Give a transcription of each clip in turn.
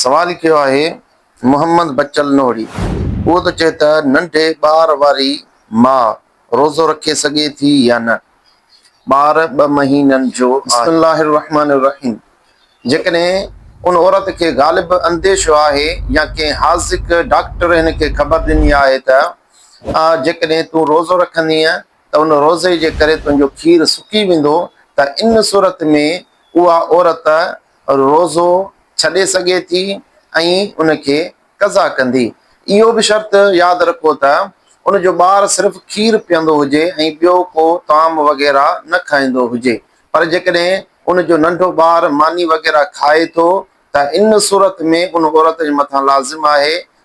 سوال ڪيو آهي محمد بچل نوحڙي. اهو ٿو چئي ته ننڍي ٻار واري ماء روزو رکي سگهي ٿي يا نه؟ ٻار ٻه مهينن جو آهي. بسم الله الرحمٰن الرحيم جيڪڏهن ان عورت کي غالب انديشو آهي يا ڪنهن حاذق ڊاڪٽر هن کي خبر ڏني آهي ته آء جيڪڏهن تون روزو رکندينء ته ان روزي جي ڪري تنهنجو کير سڪي ويندو ته ان صورت ۾ اها عورت روزو ڇڏي سگهي ٿي ۽ ان کي قضا ڪندي. اهو به شرط ياد رکو ته ان جو ٻار صرف کير پيئندو هجي ۽ ٻيو ڪو طعام وغيره نه کائيندو هجي پر جيڪڏهن ان جو ننڍو ٻار ماني وغيره کائي ٿو ته ان صورت ۾ ان عورت جي مٿان لازم آهي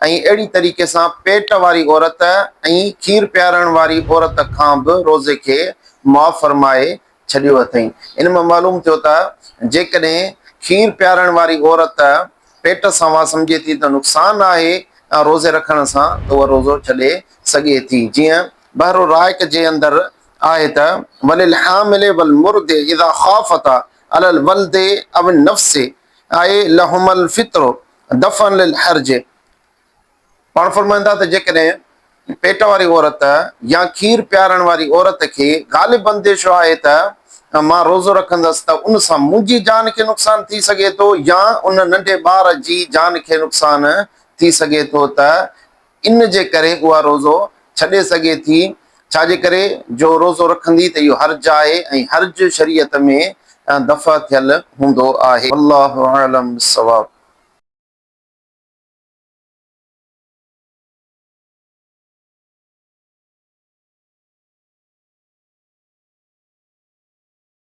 ۽ اهڙي طريقي سان پيٽ واري عورت ۽ کير پيارڻ واري عورت کان به روزي کي معاف فرمائي ڇڏيو اٿئين. ان مان معلوم ٿيو ته جيڪڏهن کير پيارڻ واري عورت پيٽ سان اها سمجهي ٿي ته نقصان آهي روزي رکڻ سان ته اها روزو ڇڏي سگهي ٿي جيئن بحر الرائق جي اندر آهي ته وللحامل والمرضع اذا خافتا علی الولد او النفس آهي لهم الفطر دفعا للحرج پاڻ فرمائن ٿا ته جيڪڏهن پيٽ واري عورت يا کير پيارڻ واري عورت کي غالب انديشو آهي ته مان روزو رکندس ته ان سان منهنجي جان کي نقصان ٿي سگهي ٿو يا ان ننڍي ٻار جي جان کي نقصان ٿي سگهي ٿو ته ان جي ڪري اها روزو ڇڏي سگهي ٿي، ڇا جي ڪري جو روزو رکندي ته اهو حرج آهي ۽ حرج شريعت ۾ دفع ٿيل هوندو آهي. والله اعلم بالصواب.